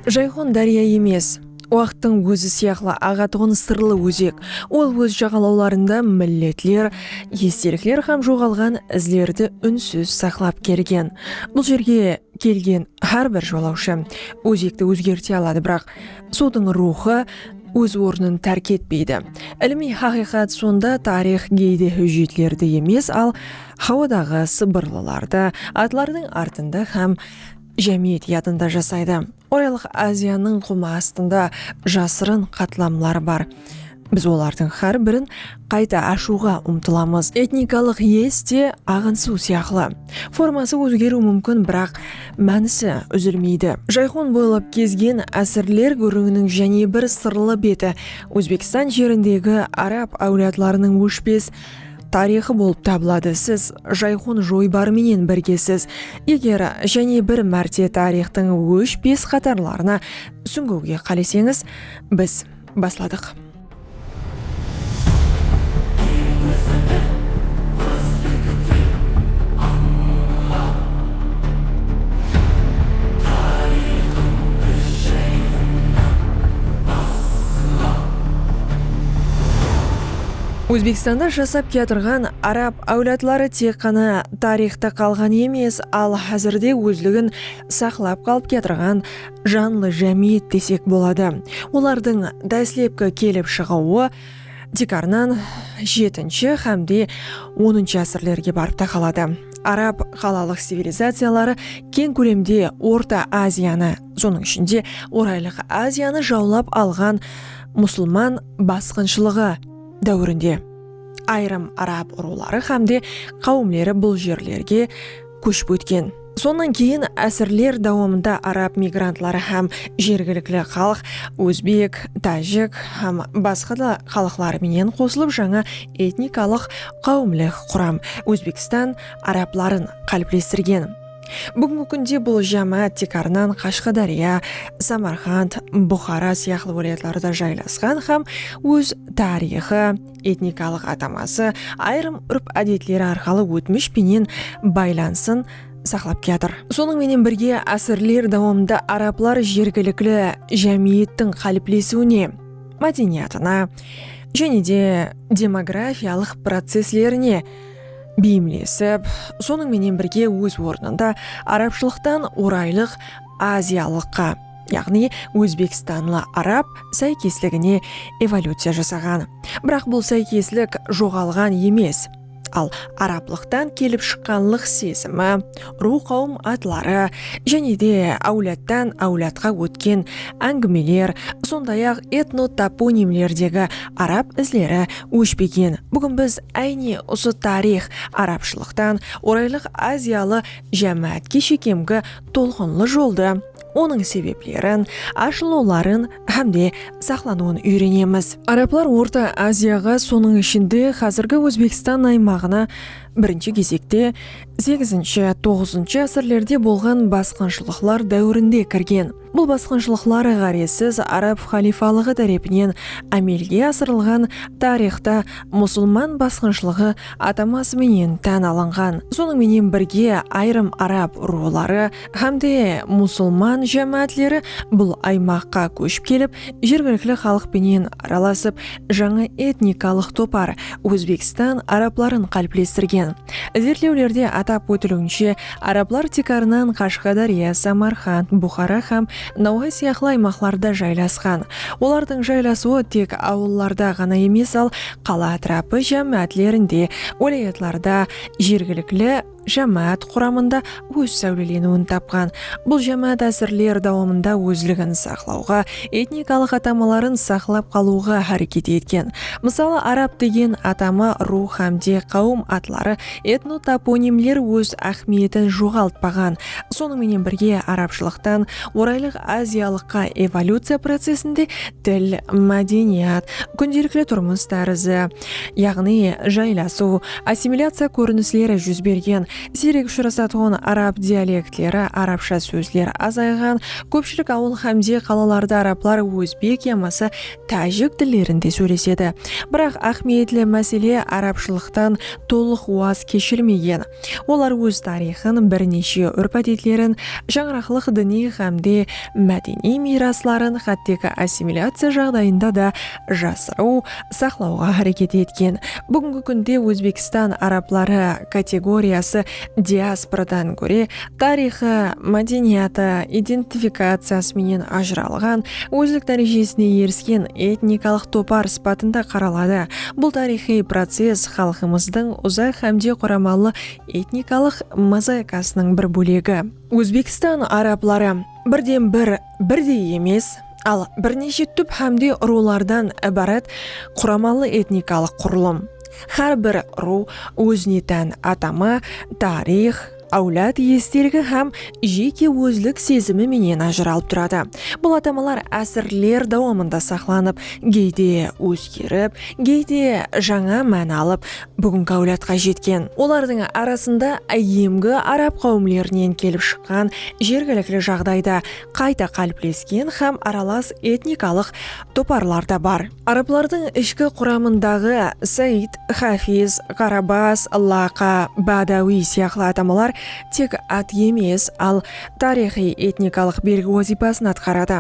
Jayxon dárya emes, waqıttıń ózi sıyaqlı aǵatuǵın sırlı ózek. Ol óz jaǵalawlarında milletler, estelikler hám joǵalǵan izlerdi únsiz saqlap kelgen. Bul jerge kelgen hár bir jolawshı ózekti ózgerte aladı, biraq suwdıń ruwxı óz ornın tárk etpeydi. Ilimiy haqıyqat sonda, tariyx geyde hújjetlerdi emes, al, hawadaǵı sıbırlılardı, atlardıń artında hám. jámiyet yadında jasaydı. Oralıq Aziyanıń qumı astında jasırın qatlamlar bar. Biz olardıń xár birin qayta ashıwǵa umtılamız. Etnikalıq iyes te aǵın suw sıyaqlı. Forması ózgeriw múmkin, biraq mánisi úzilmeydi. Jayxon boylap gezgen ásirler gúrrińiniń jáne bir sırlı beti, Ózbekstan jerindegi arab áwladlarınıń óshpes, tariyxı bolıp tabıladı siz jayxun joybarı menen birgesiz eger jáne bir márte tariyxtıń óshpes qatarlarına súńgiwge qáleseńiz biz basladıq. Ózbekstanda jasap kiyatırǵan arab áwladları tek ǵana tariyxta qalǵan emes, al házirde ózligin saqlap qalıp kiyatırǵan janlı jámiyet desek boladı. Olardıń dáslepki kelip shıǵıwı tiykarınan jetinshi hámde onınshı ásirlerge barıp taqaladı. Arab qalalıq civilizaciyaları keń kólemde Orta Aziyanı, sonıń ishinde Oraylıq Aziyanı jawlap alǵan musılman basqınshılıǵı, dáwirinde ayırım arab urıwları hám de qáwimleri bul jerlerge kóship ótken. Sonnan keyin ásirler dawamında arab migrantları hám jergilikli xalıq ózbek, tájik hám basqa da xalıqlar menen qosılıp jańa etnikalıq qáwimlik quram Ózbekstan arabların qáliplestirgen. Búgingi kúnde bul jámáát tiykarınan Qashqadárya, Samarqand, Buxara sıyaqlı wálayatlarda jaylasqan hám óz tariyxı, etnikalıq ataması, ayırım úrp-ádetleri arqalı ótmish penen baylanısın saqlap kiyatır. Sonıń menen birge, ásirler dawamında arablar jergilikli jámiyettiń qáliplesiwine, mádeniyatına jáne de demografiyalıq processlerine, beyimlesip, sonıń menen birge óz ornında arabshılıqtan oraylıq aziyalıqqa, yaǵnıy ózbekstanlı arab sáykesligine evolyuciya jasaǵan. Biraq bul sáykeslik joǵalǵan emes, al arablıqtan kelip shıqqanlıq sezimi, ruwqawım atları jáne de áwladtan áwladqa ótken áńgimeler, sonday-aq, etnotoponimlerdegi arab izleri óshpegen. Búgin biz áyne usı tariyx, arabshılıqtan Oraylıq aziyalı jámáátke shekemgi tolqınlı joldı, onıń sebeplerin, ashılıwların hám de saqlanıwın úyrenemiz. Arablar Orta Aziyaǵa, sonıń ishinde, házirgi Ózbekstan aymaǵına, birinshi gezekte, Segizinshi, toǵızınshı ásirlerde bolǵan basqınshılıqlar dáwirinde kirgen. Bul basqınshılıqlar ǵárezsiz arab xaliyfalıǵı tárepinen ámelge asırılǵan tariyxta musılman basqınshılıǵı ataması menen tán alınǵan. Sonıń menen birge ayırım arab urıwları hám de musılman jámáátleri bul aymaqqa kóship kelip jergilikli xalıq penen aralasıp Jańa etnikalıq topar Ózbekstan arabların qáliplestirgen. Izertlewlerde atap ótiliwinshe, arablar tiykarınan Qashqadárya, Samarqand, Buxara hám Nawxa sıyaqlı aymaqlarda jaylasqan. Olardıń jaylasıwı tek awıllarda ǵana emes al qala átirapı jámiátlerinde, wálayatlarda jergilikli, jámáát quramında óz sáwleleniwin tapǵan bul jámáát ásirler dawamında ózligin saqlawǵa, etnikalıq atamaların saqlap qalıwǵa háreket etken. Mısalı, arab degen atama, ruw hám de qáwim atları, etnotoponimler óz áhmiyetin joǵaltpaǵan. Sonıń menen birge, arabshılıqtan Oraylıq Aziyalıqqa evolyuciya procesinde til, mádeniyat, kúndelikli turmıs tárizi, yaǵnıy jaylasıw, assimilyaciya kórinisleri júz bergen, siyrek ushırasatuǵın arab dialektleri, arabsha sózler azayǵan, kópshilik awıl hámde qalalarda arablar ózbek yamasa tájik tillerinde sóylesedi. Biraq áhmiyetli másele arabshılıqtan tolıq waz keshirmegen. Olar óz tariyxın, bir neshe úrp-ádetlerin, shańaraqlıq diniy hámde mádeniy miyrasların xátteki assimilyaciya jaǵdayında da jasırıw, saqlawǵa háreket etken. Búgingi kúnde Ózbekstan arabları kategoriyası diasporadan góre, tariyxı, mádeniyatı, identifikaciyası menen ajıralǵan, ózlik dárejesine erisken etnikalıq topar sıpatında qaraladı. Bul tariyxıy process xalqımızdıń uzaq hámde quramalı etnikalıq mozaikasınıń bir bólegi. Ózbekstan arabları, birden-bir, birdey emes, al birneshe túp hámde urıwlardan ibarat quramalı etnikalıq qurılım. Hár bir urıw ózine tán atama, tariyx, áwlad esteligi hám jeke ózlik sezimi menen ajıralıp turadı. Bul atamalar ásirler dawamında saqlanıp, geyde ózgerip, geyde jańa máni alıp, Búgingi áwladqa jetken. Olardıń arasında áyyemgi arab qáwimlerinen kelip shıqqan jergilikli jaǵdayda qayta qáliplesken hám aralas etnikalıq toparlar da bar. Arablardıń ishki quramındaǵı Said, Xafiz, Ǵarabaz, Laqa, Bádawiy sıyaqlı atamalar tek at emes, al tariyxıy etnikalıq belgi wazıypasın atqaradı.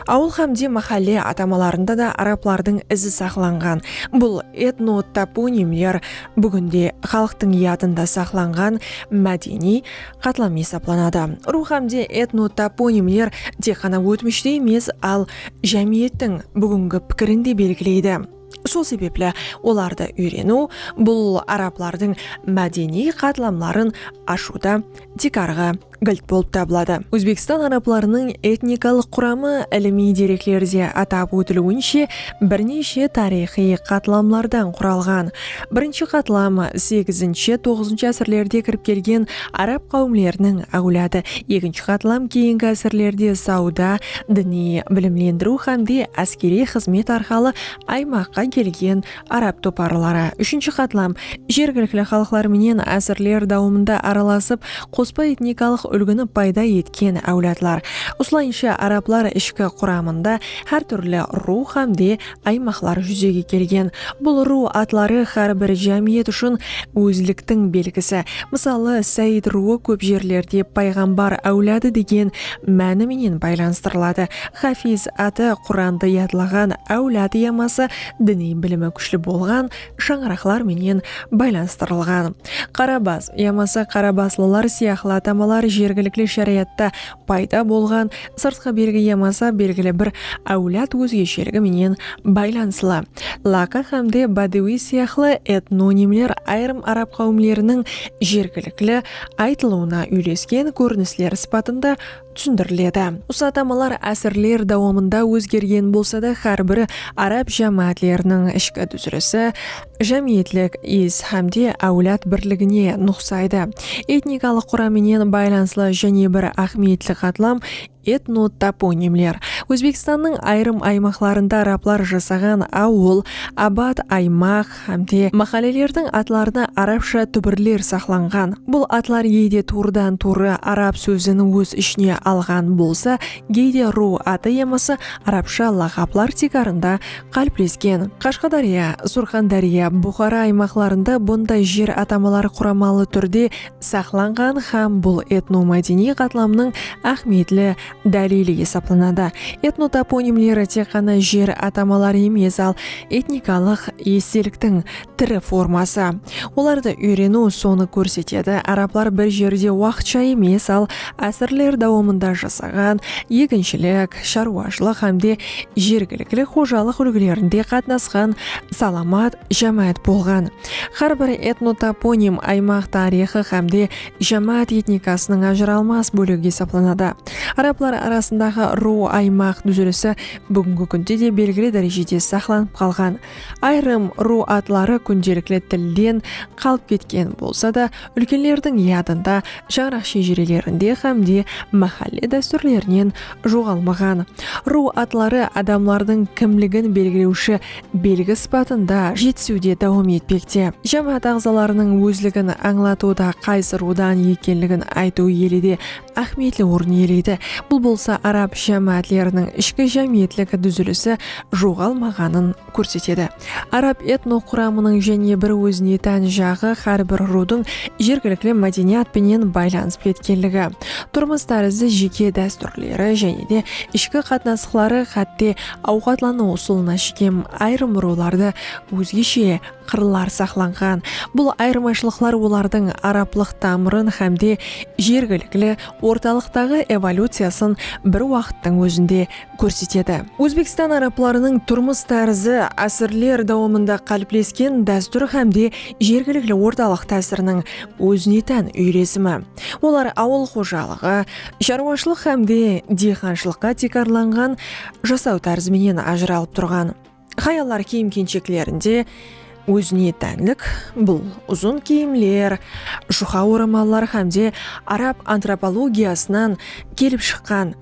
Awıl hám de máhálle atamalarında da arablardıń izi saqlanǵan. Bul etnotoponimler búgin de xalıqtıń yadında saqlanǵan mádeniy qatlam esaplanadı. Urıw hám de etnotoponimler tek ǵana ótmishti emes, al jámiyettiń búgingi pikirin de belgileydi. Sol sebepli olardı úyreniw bul arablardıń mádeniy qatlamların ashıwda tiykarǵı gilt bolıp tabıladı. Ózbekstan arablarınıń etnikalıq quramı ilimiy dereklerde atap ótiliwinshe birneshe tariyxıy qatlamlardan quralǵan. Birinshi qatlam segizinshi-toǵızınshı ásirlerde kirip kelgen Arab qáwimleriniń áwladı ekinshi qatlam keyingi ásirlerde sawda, diniy bilimlendiriw hámde áskeriy xızmet arqalı aymaqqa kelgen arab toparları úshinshi qatlam jergilikli xalıqlar menen ásirler dawamında aralasıp, qospa etnikalıq úlgini payda etken áwladlar. Usılayınsha arablar ishki quramında hár túrli ruw hámde Aymaqlar júzege kelgen bul ruw atları hár bir jámiyet ushın ózliktiń belgisi. Mısalı, Sáyid ruwı kóp jerlerde payǵambar áwladı degen máni menen baylanıstırıladı. Xafiz atı Qurandı yadlaǵan áwlad yaması diniy bilimi kúshli bolǵan shańaraqlar menen baylanıstırılǵan. Qarabas yamasa qarabaslılar sıyaqlı atamalar jergilikli sharayatta Payda bolǵan sırtqı belgi yamasa belgili bir áwlad ózgesheligi menen baylanıslı. Laka hámde Badawi sıyaqlı etnonimler ayırım arab qáwimleriniń jergilikli aytılıwına úylesken kórinisler sıpatında túsindiriledi. Usı atamalar ásirler dawamında ózgergen bolsada, hár bir arab jámáátleriniń ishki dúzilisi, jámiyetlik is hám de áwlad birligine nuqsaydı. Etnikalıq quram menen baylanıslı jáne bir áhmiyetli qatlam etnotoponimler. Ózbekstannıń ayırım aymaqlarında arablar jasaǵan awıl, abat, aymaq hám de máhállelerdiń atlarına arabsha túbirler saqlanǵan. Bul atlar geyde tuwrıdan-tuwrı arab sózin óz ishine alǵan bolsa, geyde ruw atı yamasa arabsha laqaplar tiykarında Qáliplesken, Qashqadárya, Surxandárya, Buxara aymaqlarında bunday jer atamaları quramalı túrde saqlanǵan hám bul etnomádeniy qatlamnıń áhmiyetli dálili esaplanadı. Etnotoponimleri tek ǵana jer atamaları emes, al etnikalıq esteliktiń, tiri forması. Olardı úyreniw sonı kórsetedi, arablar bir jerde waqıtsha emes, al ásirler dawamında jasaǵan, eginshilik, sharwashılıq hámde jergilikli xojalıq úlgilerinde qatnasqan salamat jámáát bolǵan. Hár bir etnotoponim aymaq tariyxı hámde jámáát etnikasınıń ajıralmas bólegi esaplanadı. Arablar arasındaǵı ruw-aymaq dúzilisi búgingi kúnde de belgili dárejede saqlanıp qalǵan. Ayırım ruw atları kúndelikli tilden qalıp ketken bolsa da, úlkenlerdiń yadında, shańaraq shejirelerinde hám de máhálle dástúrlerinen joǵalmaǵan. Ruw atları adamlardıń kimligin belgilewshi belgi sıpatında jetisiwde dawam etpekte. Jámáát aǵzalarınıń ózligin ańlatıwda qaysı ruwdan ekenligin aytıw ele de áhmiyetli orın iyeleydi, bul bolsa arab jámáátleriniń ishki jámiyetlik dúzilisi joǵalmaǵanın kórsetedi. Arab etnoquramınıń jáne bir ózine tán jaǵı hár bir ruwdıń jergilikli mádeniyat penen baylanısıp ketkenligi, turmıs tárizi, jeke dástúrleri jáne de ishki qatnasıqları, xátte awqatlanıw usılına shekem ayırım ruwlardı ózgeshe qırlar saqlanǵan. Bul ayırmashılıqlar olardıń araplıq tamırın hámde jergilikli ortalıqtaǵı evolyuciyasın bir waqıttıń ózinde kórsetedi. Ózbekstan araplarınıń turmıs tárizi ásirler dawamında qáliplesken dástúr hámde jergilikli ortalıq tásiriniń ózine tán úyresimi. Olar awıl xojalıǵı, sharwashılıq hámde diyxanshılıqqa tiykarlanǵan jasaw tárizi menen ajıralıp turǵan. Hayallar kiyim-kensheklerinde ózine tánlik bul uzın kiyimler, juqa oramallar hámde arab antropologiyasınan kelip shıqqan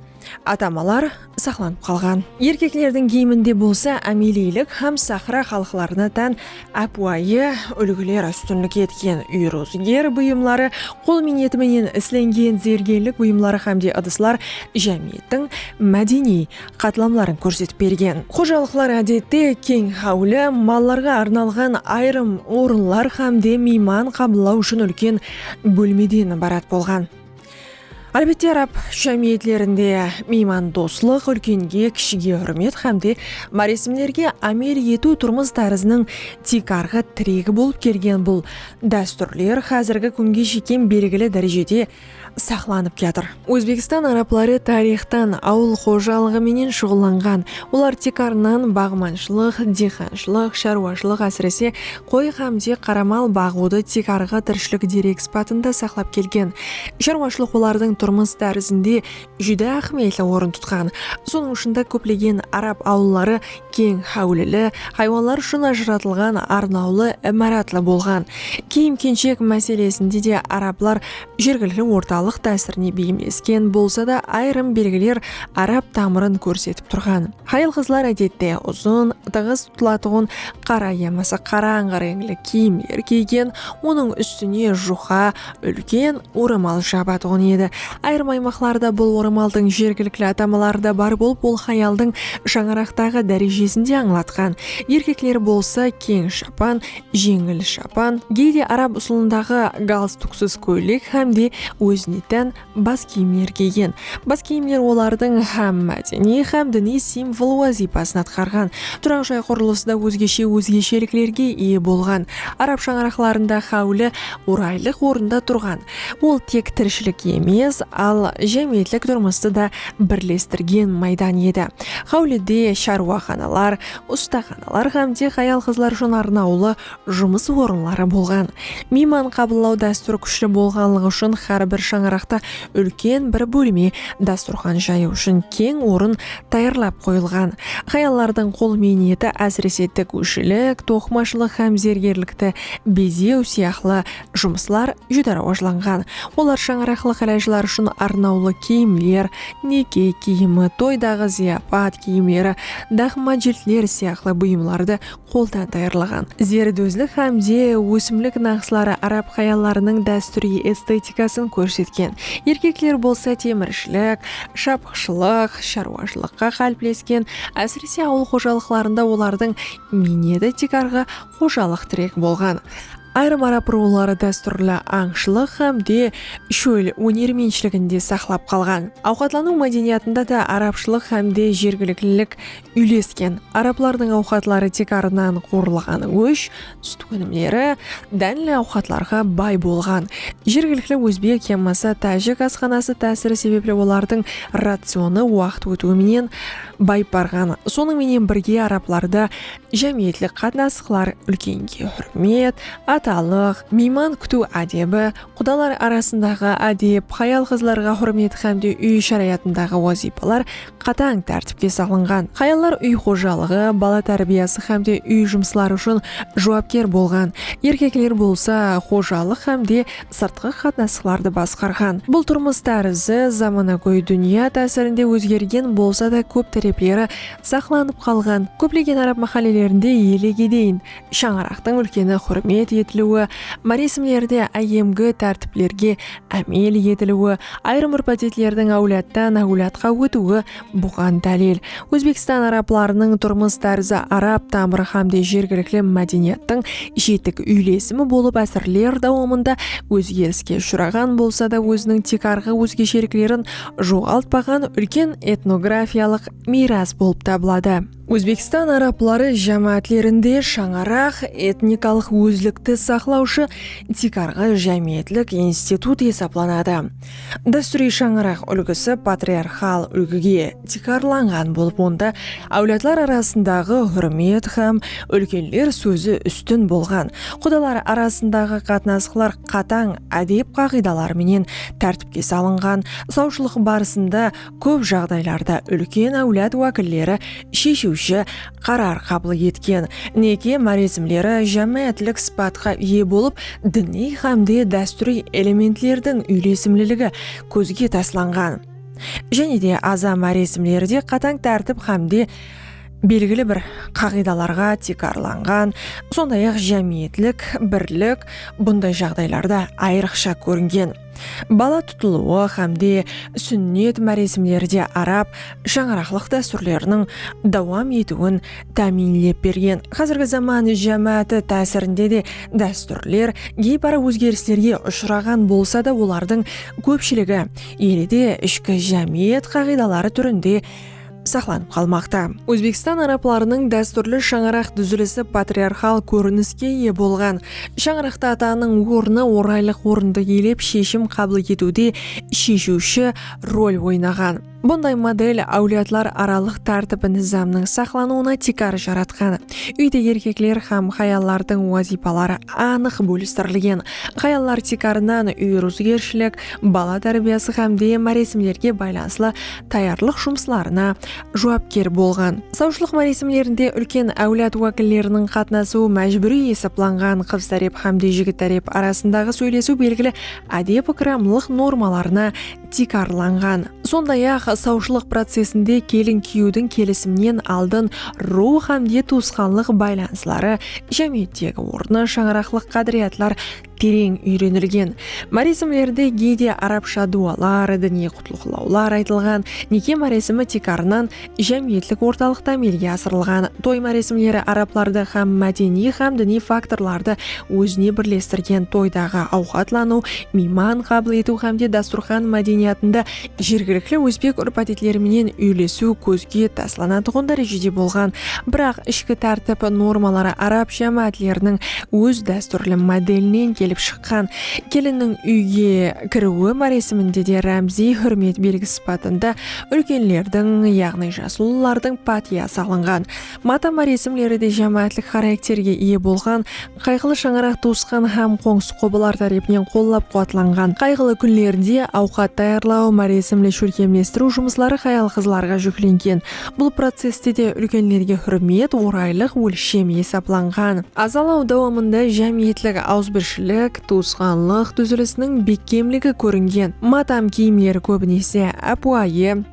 atamalar saqlanıp qalǵan. Erkeklerdiń kiyiminde bolsa ámeliylik hám sahra xalıqlarına tán ápiwayı úlgiler ústinlik etken úyrıwzıger buyımları, qol miyneti menen islengen zergenlik buyımları hámde ıdıslar jámiyettiń mádeniy qatlamların kórsetip bergen. Xojalıqlar ádette keń háwli, mallarǵa arnalǵan ayırım orınlar hám de miyman qabıllaw ushın úlken bólmeden ibarat bolǵan. Álbette, arab jámiyetlerinde miymandoslıq, úlkenge, kishige húrmet hám de máresimlerge ámel etiw turmıs táriziniń tiykarǵı tiregi bolıp kelgen bul dástúrler házirgi kúnge shekem belgili dárejede saqlanıp kiyatır. Ózbekstan arabları tariyxtan awıl xojalıǵı menen shuǵıllanǵan. Olar tiykarınan baǵmanshılıq, diyxanshılıq, sharwashılıq, ásirese, qoy xámde qara mal baǵıwdı tiykarǵı tirishilik derekspatında saqlap kelgen. Sharwashılıq olardıń turmıs tárizinde júdá áhmiyetli orın tutqan. Sonıń ushın da kóplegen arab awılları keń háwlili, haywanlar ushın ajıratılǵan arnawlı imaratlı bolǵan. Kiyim-kenshek máselesinde de arablar jergilikli ortalıq tásirine beyimlesken bolsa da, ayırım belgiler arab tamırın kórsetip turǵan. Hayal-qızlar ádette uzın, tıǵız tutılatuǵın qara yamasa qarańǵı reńli kiyimler kiygen, onıń ústine juqa, úlken oramal jabatuǵın edi. Ayırım aymaqlarda bul oramaldıń jergilikli atamaları da bar bolıp, ol hayaldıń shańaraqtaǵı dárejesin de ańlatqan. Erkekler bolsa keń shapan, jeńil shapan, geyde arab usılındaǵı galstuksız kóylek hám de ózine tán Bas kiyimler kiygen. Bas kiyimler olardıń hám mádeniy, hám diniy simvol wazıypasın atqarǵan. Turaq jay qurılısı da ózgeshe ózgesheliklerge iye bolǵan. Arab shańaraqlarında háwli oraylıq orında turǵan. Ol tek tirishilik emes, al jámiyetlik turmıstı da birlestirgen maydan edi. Háwlide sharwaxanalar, ustaxanalar hám de hayal-qızlar ushın arnawlı jumıs orınları bolǵan. Miyman qabıllaw dástúri kúshli bolǵanlıǵı ushın hár bir shańaraqta úlken bir bólme dasturxan jayıw ushın keń orın tayarlap qoyılǵan. Hayallardıń qol miyneti ásirese tikúshilik, toqımashılıq hám zergerlikti bezew sıyaqlı jumıslar júdá rawajlanǵan. Olar shańaraqlıq ilajlar ushın arnawlı kiyimler, neke kiyimi, toydaǵı zıyapat kiyimleri, daqma jiltler sıyaqlı buyımlardı qoldan tayarlaǵan, zerdózlik hám de ósimlik naqsları arab hayallarınıń dástúriy estetikasın kórsetken, erkekler bolsa temirshilik, shapıqshılıq, sharwashılıqqa qáliplesken, ásirese awıl xojalıqlarında olardıń miyneti tiykarǵı xojalıq tirek bolǵan. Ayırım arab ruwları dástúrli ańshılıq hám de shól ónermentshiligin de saqlap qalǵan. Awqatlanıw mádeniyatında da arabshılıq hám de jergiliklilik úylesken. Arablardıń awqatları tek arınan qorılǵan gósh, sút ónimleri, dánli awqatlarǵa bay bolǵan. Jergilikli ózbek yammasa tájik asxanası tásiri sebepli olardıń racionı waqıt ótiwi menen bayıp barǵan. Sonıń menen birge arablarda jámiyetlik qatnasıqlar, úlkenge húrmet, atalıq, miyman kútiw ádebi, Qudalar arasındaǵı ádep, hayal-qızlarǵa húrmet hámde úy sharayatındaǵı wazıypalar qatań tártipke salınǵan. Hayallar úy xojalıǵı, bala tárbiyası hámde úy jumısları ushın juwapker bolǵan, erkekler bolsa xojalıq hámde sırtqı qatnasıqlardı basqarǵan. Bul turmıs tárizi zamanagóy dúnya tásirinde ózgergen bolsa da kóp tárepleri saqlanıp qalǵan. Kóplegen arab máhállelerinde elegedeyin Shańaraqtıń úlkeni húrmet etiliwi, máresimlerde áyyemgi tártiplerge ámel etiliwi, ayırım úrp-ádetlerdiń áwladtan áwladqa ótiwi buǵan dálil. Ózbekstan arablarınıń turmıs tárzi arab tamırı hám de jergilikli mádeniyattıń jetik úylesimi bolıp ásirler dawamında ózgeriske ushıraǵan bolsa da óziniń tiykarǵı ózgesheliklerin joǵaltpaǵan úlken etnografiyalıq miyras bolıp tabıladı. Ózbekstan arabları jámáátlerinde shańaraq, etnikalıq ózlikti saqlawshı tiykarǵı jámiyetlik institut esaplanadı. Dástúriy shańaraq úlgisi patriarxal úlgige tiykarlanǵan bolıp onda áwladlar arasındaǵı húrmet hám úlkenler sózi ústin bolǵan, qudalar arasındaǵı qatnasıqlar qatań ádep qaǵıydaları menen tártipke salınǵan, sawshılıq barısında Kóp jaǵdaylarda úlken áwlad wákilleri sheshiwshi qarar qabıl etken neke máresimleri jámáátlik sıpatqa iye bolıp, diniy hámde dástúriy elementlerdiń úylesimliligi kózge taslanǵan. Jáne de aza máresimleri de qatań tártip hámde belgili bir qaǵıydalarǵa tiykarlanǵan, sonday-aq jámiyetlik birlik bunday jaǵdaylarda ayrıqsha kóringen. Bala tutılıwı hám de súnnet máresimleri de arab shańaraqlıq dástúrleriniń dawam etiwin támiyinlep bergen. Házirgi zaman jámááti tásirinde de dástúrler geypara ózgerislerge ushıraǵan bolsa da, olardıń kópshiligi ele de ishki jámiyet qaǵıydaları túrinde saqlanıp qalmaqta. Ózbekstan arablarınıń dástúrli shańaraq dúzilisi patriarxal kóriniske iye bolǵan. Shańaraqta atanıń ornı oraylıq orındı iyelep sheshim qabıl etiwde sheshiwshi rol oynaǵan. Bunday model áwladlar aralıq tártip-nizamnıń saqlanıwına tiykar jaratqan. Úyde erkekler hám hayallardıń wazıypaları anıq bólistirilgen. Hayallar tiykarınan úy ruwzıgershilik, bala tárbiyası hám de máresimlerge baylanıslı tayarlıq jumıslarına juwapker bolǵan. Sawshılıq máresimlerinde úlken áwlad wákilleriniń qatnasıwı májbúriy esaplanǵan qız tárep hámde jigit tárep arasındaǵı sóylesiw belgili ádep-ikramlıq normalarına tiykarlanǵan. Sonday-aq, sawshılıq procesinde kelin-kúyewdiń kelisimnen aldın ruwx hámde tuwısqanlıq baylanısları, jámiyettegi ornı, shańaraqlıq qádiriyatlar, tereń úyrenilgen, máresimlerde geyde arabsha duwalar, diniy qutlıqlawlar aytılǵan, neke máresimi tiykarınan jámiyetlik ortalıqta amelge asırılǵan. Toy máresimleri arablardı hám mádeniy hám diniy faktorlardı ózine birlestirgen toydaǵı awqatlanıw, miyman qabıl etiw hámde dasturxan mádeniyatında jergilikli ózbek úrp-ádetleri menen úylesiw kózge taslanatuǵın dárejede bolǵan, biraq ishki tártip normaları arab jámáátleriniń óz dástúrli modelinen kelip shıqqan. Kelinniń úyge kiriwi máresiminde de rámziy húrmet belgisi sıpatında úlkenlerdiń, yaǵnıy jaslılardıń pátiya salınǵan. Mata máresimleri de jámáátlik xarakterge iye bolǵan, Qayǵılı shańaraq tuwısqan hám qońsı-qobalar tárepinen qollap-quwatlanǵan. Qayǵılı kúnlerde awqat tayarlaw, máresimli shólkemlestiriw jumısları hayal-qızlarǵa júklengen. Bul processte de úlkenlerge húrmet oraylıq ólshem esaplanǵan. Azalaw dawamında jámiyetlik awızbirshilik, tuwısqanlıq dúzilisiniń bekkemligi kóringen. Mátam kiyimleri kóbinese ápiwayı,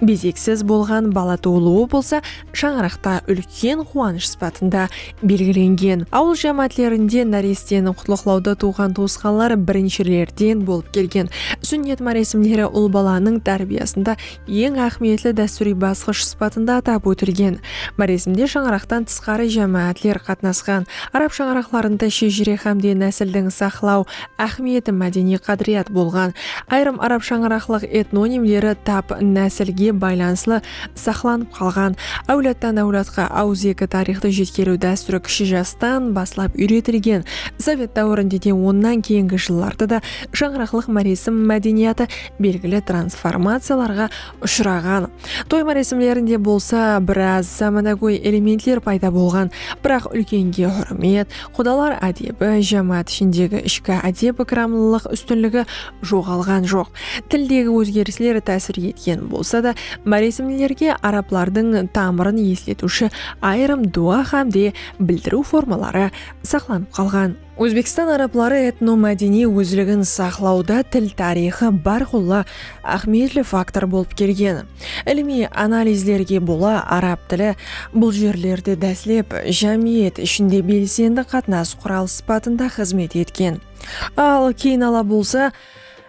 Bezeksiz bolǵan bala tuwılıwı bolsa shańaraqta úlken quwanısh sıpatında belgilengen. Awıl jámáátlerinde náresteni qutlıqlawda tuwǵan-tuwısqanlar birinshilerden bolıp kelgen. Súnnet máresimleri ul balanıń tárbiyasında eń áhmiyetli dástúriy basqısh sıpatında atap ótilgen. Máresimde shańaraqtan tısqarı jámáátler qatnasqan. Arab shańaraqlarında shejire hámde násildiń saqlaw Áhmiyeti mádeniy qádiriyat bolǵan ayırım arab shańaraqlıq etnonimleri tap násilge baylanıslı saqlanıp qalǵan, áwladtan-áwladqa awızeki tariyxtı jetkeriw dástúri kishi jastan baslap úyretilgen, sovet dáwirinde de onnan keyingi jıllarda da shańaraqlıq máresim mádeniyatı belgili transformaciyalarǵa ushıraǵan, toy máresimlerinde bolsa biraz zamanagóy elementler payda bolǵan, biraq úlkenge húrmet, Qudalar ádebi, jámáát ishindegi ishki ádep-ikramlılıq ústinligi joǵalǵan joq. Tildegi ózgerisler tásir etken bolsa da, máresimlerge arablardıń tamırın esletiwshi ayırım duwa hám de bildiriw formaları saqlanıp qalǵan. Ózbekstan arabları etnomádeniy ózligin saqlawda til tariyxı bárqulla áhmiyetli faktor bolıp kelgen. Ilimiy analizlerge bola arab tili bul jerlerde dáslep jámiyet ishinde belsendi qatnas quralı sıpatında xızmet etken, al keyin ala bolsa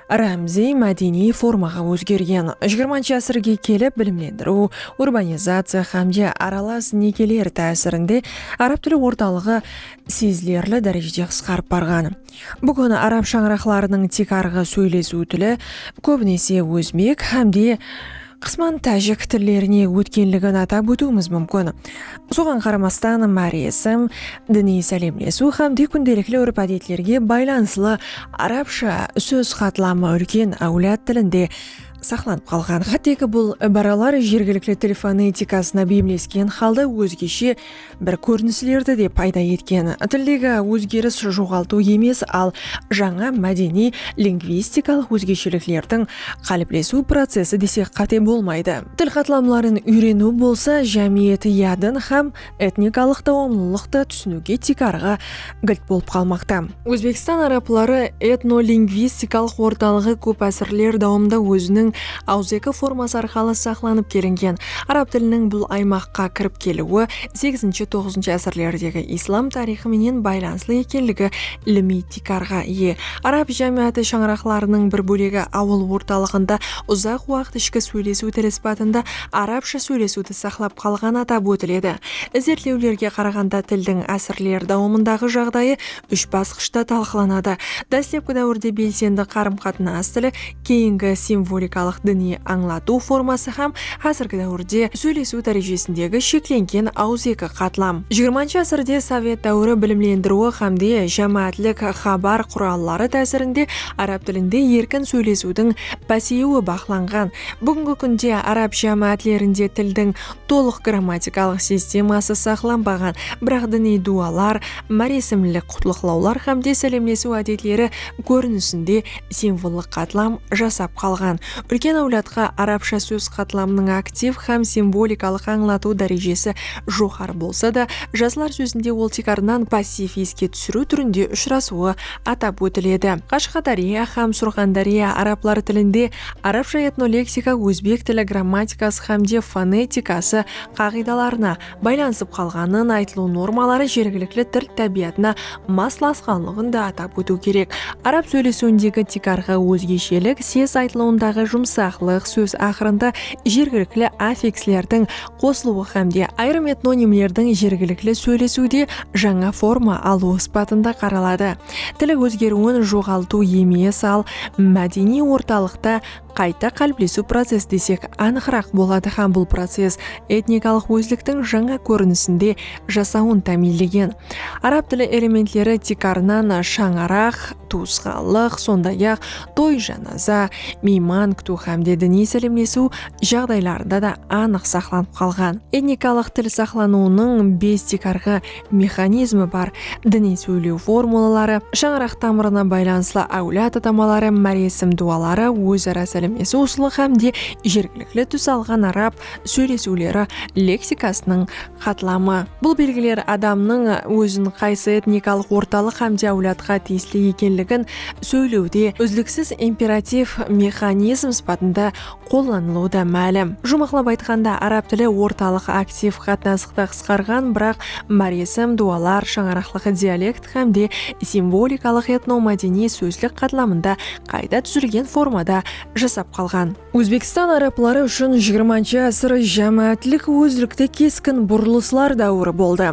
rámziy mádeniy formaǵa ózgergen. Jigirmanshı ásirge kelip bilimlendiriw, urbanizaciya xámde aralas nekeler tásirinde arab tili ortalıǵı sezilerli dárejede qısqarıp barǵan. Búgin arab shańaraqlarınıń tiykarǵı sóylesiw tili kóbinese ózbek hám de qısman tájik tillerine ótkenligin atap ótiwimiz múmkin. Soǵan qaramastan, máresim, diniy sálemlesiw hám de kúndelikli úrp-ádetlerge baylanıslı arabsha sóz qatlamı úlken áwlad tilinde saqlanıp qalǵan. Hátteki bul ibaralar jergilikli til fonetikasına beyimlesken halda ózgeshe Bir kórinislerdi de payda etken. Tildegi ózgeris joǵaltıw emes, al jańa mádeniy lingvistikalıq ózgesheliklerdiń qáliplesiw procesi desek qáte bolmaydı. Til qatlamların úyreniw bolsa jámiyet yadın hám etnikalıq dawamlılıqtı túsiniwge tiykarǵı gilt bolıp qalmaqta. Ózbekstan arapları etnolingvistikalıq ortalıǵı kóp ásirler dawamında óziniń awızeki forması arqalı saqlanıp kelingen. Arap tiliniń bul aymaqqa kirip keliwi segizinshi-toǵızınshı ásirlerdegi islam tariyxı menen baylanıslı ekenligi ilimiy tiykarǵa iye. Arap jámiyatı shańaraqlarınıń bir bólegi awıl ortalıǵında uzaq waqıt ishki sóylesiw tili sıpatında arapsha sóylesiwdi saqlap qalǵanı atap ótiledi. Izertlewlerge qaraǵanda tildiń ásirler dawamındaǵı jaǵdayı úsh basqıshta talqılanadı, dáslepki dáwirde belsendi qarım-qatnas tili, keyingi simvolikalıq diniy ańlatıw forması hám házirgi dáwirde sóylesiw dárejesindegi sheklengen awızeki qatlam. Jigirmanshı ásirde sovet dáwiri bilimlendiriwi hámde jámáátlik xabar quralları tásirinde árab tilinde erkin sóylesiwdiń páseyiwi baqlanǵan. Búgingi kúnde árab jámáátlerinde tildiń tolıq grammatikalıq sisteması saqlanbaǵan, biraq diniy dualar, máresimlik qutlıqlawlar hámde sálemlesiw ádetleri kórinisinde simvollıq qatlam jasap qalǵan. Úlken áwladqa arabsha sóz qatlamınıń aktiv hám simvolikalıq ańlatıw dárejesi joqarı bolsa da, jaslar sózinde ol tiykarınan passiv eske túsiriw túrinde ushırasıwı atap ótiledi. Qashqadárya hám Surxandárya arablar tilinde Arabsha etnoleksika ózbek tili grammatikası hám de fonetikası qaǵıydalarına baylanısıp qalǵanın, aytılıw normaları jergilikli til tábiyatına maslasqanlıǵın da atap ótiw kerek. Arab sóylesiwindegi tiykarǵı ózgeshelik ses aytılıwındaǵı jumsaqlıq, sóz aqırında jergilikli affikslerdiń qosılıwı hám de ayırım etnonimlerdiń jergilikli sóylesiwde jańa forma alıwı sıpatında qaraladı. Til ózgeriwin joǵaltıw emes, al mádeniy ortalıqta qayta qáliplesiw process desek anıqıraq boladı hám bul process etnikalıq ózliktiń jańa kórinisinde jasawın támiyinlegen. Arab tili elementleri tiykarınan shańaraq, tuwısqanlıq, sonday-aq, toy-janaza, miyman kútiw hámde diniy sálemlesiw jaǵdaylarında da anıq saqlanıp qalǵan. Etnikalıq til saqlanıwınıń bes tiykarǵı mexanizmi bar diniy sóyleu formulaları, shańaraq tamırına baylanıslı áwlad atamaları, máresim duaları, óz-ara sálemlesiw usılı hám de jergilikli tús alǵan arab sóylesiwleri leksikasınıń qatlamı. Bul belgiler adamnıń ózin qaysı etnikalıq ortalıq hám de áwladqa tiyisli ekenligin sóyleude úzliksiz imperativ mexanizm sıpatında qollanılıwı da málim. Juwmaqlap aytqanda, arab tili ortalıq aktiv qatnasıqtı qısqarǵan, biraq máresim, duwalar, shańaraqlıq dialekt hám de simvolikalıq etnomádeniy sózlik qatlamında qayta dúzilgen formada jasap qalǵan. Ózbekstan arabları ushın jigirmanshı ásir jámáátlik ózlikte keskin burılıslar dáwiri boldı.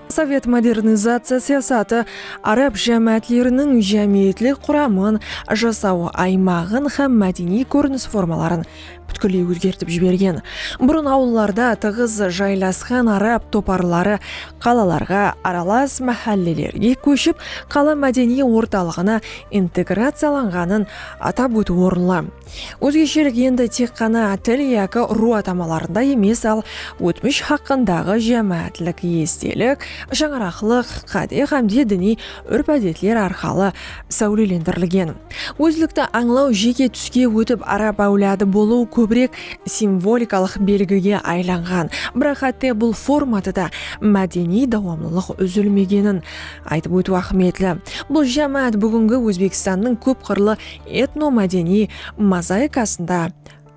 Sovet modernizaciya siyasatı, Arab jámáátleriniń jámiyetlik quramın, jasaw aymaǵın hám mádeniy kórinis formaların pútkilley ózgertip jibergen. Burın awıllarda tıǵız jaylasqan arab toparları qalalarǵa, aralas máhállelerge kóship, qala mádeniy ortalıǵına integraciyalanǵanın atap ótiw orınlı. Ózgeshelik endi tek ǵana til yaki urıw atamalarında emes, al ótmish haqqındaǵı jámáátlik estelik, shańaraqlıq qáde hámde diniy úrp-ádetler arqalı sáwlelendirilgen. Ózlikti ańlaw jeke túske ótip arab áwladı bolıw kóbirek simvolikalıq belgige aylanǵan, biraq hátte bul formada da mádeniy dawamlılıq úzilmegenin aytıp ótiw áhmiyetli. Bul jámáát búgingi Ózbekstannıń kóp qırlı etnomádeniy mozaikasında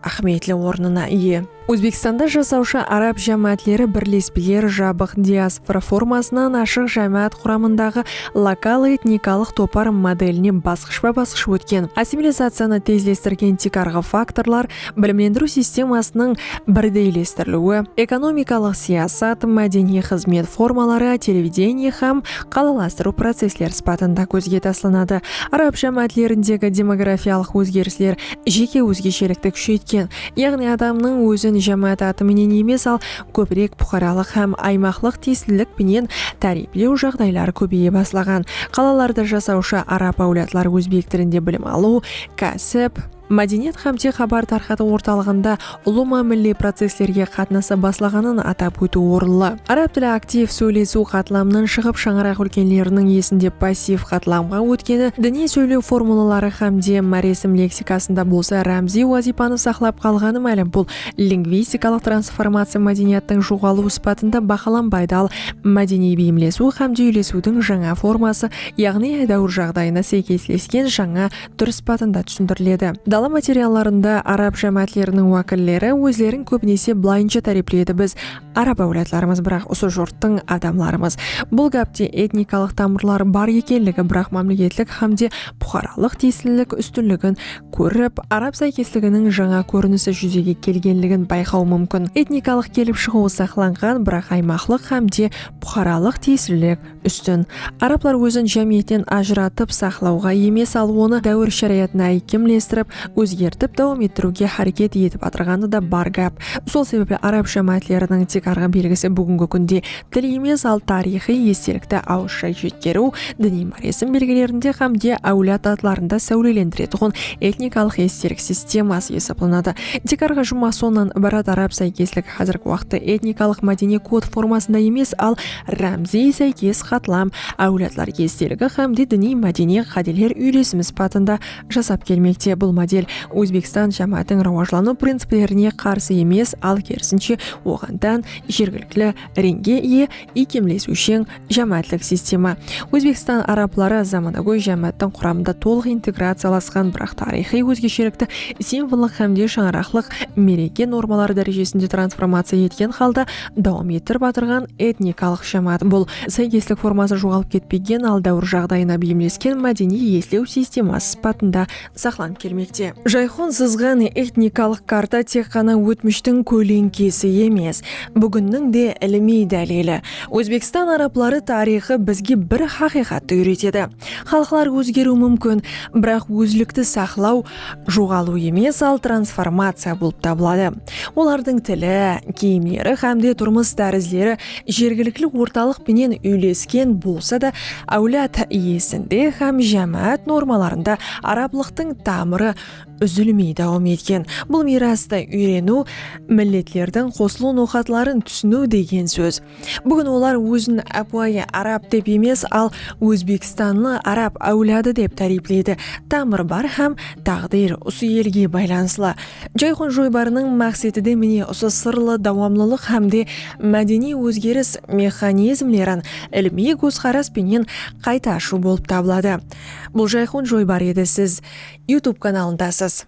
áhmiyetli ornına iye. Ózbekstanda jasawshı arab jámáátleri birlespeleri jabıq diaspora formasınan ashıq jámáát quramındaǵı lokal etnikalıq topar modeline basqıshpa-basqısh ótken, assimilizaciyanı tezlestirgen tiykarǵı faktorlar bilimlendiriw sistemasınıń birdeylestiriliwi, ekonomikalıq siyasat, mádeniy xızmet formaları, televidenie hám qalalastırıw processleri sıpatında kózge taslanadı. Arab jámáátlerindegi demografiyalıq ózgerisler jeke ózgeshelikti kúsheytken, yaǵnıy adamnıń ózin jámáát atı menen emes, al kóbirek puqaralıq hám aymaqlıq tiyislilik penen táriyiplew jaǵdayları kóbeye baslaǵan. Qalalarda jasawshı arab áwladlar ózbek tilinde bilim alıw, kásip, mádeniyat hám te xabar tarqatıw ortalıǵında ulıwma milliy processlerge qatnasa baslaǵanın atap ótiw orınlı. Arab tili aktiv sóylesiw qatlamınan shıǵıp shańaraq úlkenleriniń esinde passiv qatlamǵa ótkeni, diniy sóylew formulaları hám de máresim leksikasında bolsa rámziy wazıypanı saqlap qalǵanı málim. Bul lingvistikalıq transformaciya mádeniyattıń joǵalıw sıpatında bahalanbaydı, al mádeniy beyimlesiw hám de úylesiwdiń jańa forması yaǵnıy edáwir jaǵdayına sáykeslesken jańa túr sıpatında túsindiriledi. Dala materiallarında arab jámáátleriniń wákilleri ózlerin kóbinese bılayınsha tárepleydi biz arab áwladlarımız biraq usı jurttıń adamlarımız. Bul gápte etnikalıq tamırları bar ekenligi biraq mámleketlik hámde puqaralıq tiyislilik ústinligin kórip arab sáykesliginiń jańa kórinisi júzege kelgenligin bayqaw múmkin. Etnikalıq kelip shıǵıwı saqlanǵan biraq aymaqlıq hámde puqaralıq tiyislilik Ústin, arablar ózin jámiyetten ajıratıp saqlawǵa emes, al onı dáwir sharayatına áykemlestirip, ózgertip dawam ettiriwge háreket etip atırǵanı da bar gáp. Sol sebepli arab jámáátleriniń tiykarǵı belgisi búgingi kúnde til emes, al tariyxıy estelikti awızsha jetkeriw, diniy máresim belgilerinde hám de áwlad atlarında sáwlelendiretuǵın etnikalıq estelik sisteması esaplanadı. Tiykarǵı jumma sonnan ibarat arab sáykesligi házirgi waqıtta etnikalıq-mádeniy kod formasında emes, al Rámziy sáykes qatlam áwladlar esteligi hám de diniy mádeniy qádeler úylesimi sıpatında jasap kelmekte. Bul model Ózbekstan jámáátiń rawajlanıw principlerine qarsı emes, al kerisinshe, oǵan tán jergilikli reńge iye iykemlesiwsheń jámáátlik sistema. Ózbekstan arabları zamanagóy jámááttiń quramında tolıq integraciyalasqan, biraq tariyxıy ózgeshelikti simvollıq hám de shańaraqlıq mereke normaları dárejesinde transformaciya etken halda, dawam ettirip atırǵan etnikalıq jámáát bul sáykeslik formasın joǵalıp ketpegen al dáwir jaǵdayına beyimlesken mádeniy eslew sisteması sıpatında saqlanıp kelmekte. Jayxon sızǵan etnikalıq karta tek ǵana ótmishtiń kóleńkesi emes, búginniń de ilimiy dálili. Ózbekstan arabları tariyxı bizge bir haqıyqattı úyretedi, xalıqlar ózgeriwi múmkin, biraq ózlikti saqlaw, joǵalıw emes, al transformaciya bolıp tabıladı. Olardıń tili, kiyimleri hám de turmıs tárizleri jergilikli ortalıq penen úylesken bolsa da, áwlad iyesinde hám jámáát normalarında arablıqtıń tamırı úzilmey dawam etken bul miyrastı úyreniw milletlerdiń qosılıw noqatların túsiniw degen sóz. Búgin olar ózin ápiwayı arab dep emes, al ózbekstanlı arab áwladı dep táriypleydi. Tamır bar hám táǵdir usı elge baylanıslı. Jayxon joybarınıń maqseti de mine usı sırlı dawamlılıq hámde mádeniy ózgeris mexanizmlerin ilimiy kózqaras penen qayta ashıw bolıp tabıladı. Bul Jayxon joybar edi siz Youtube kanalındasız.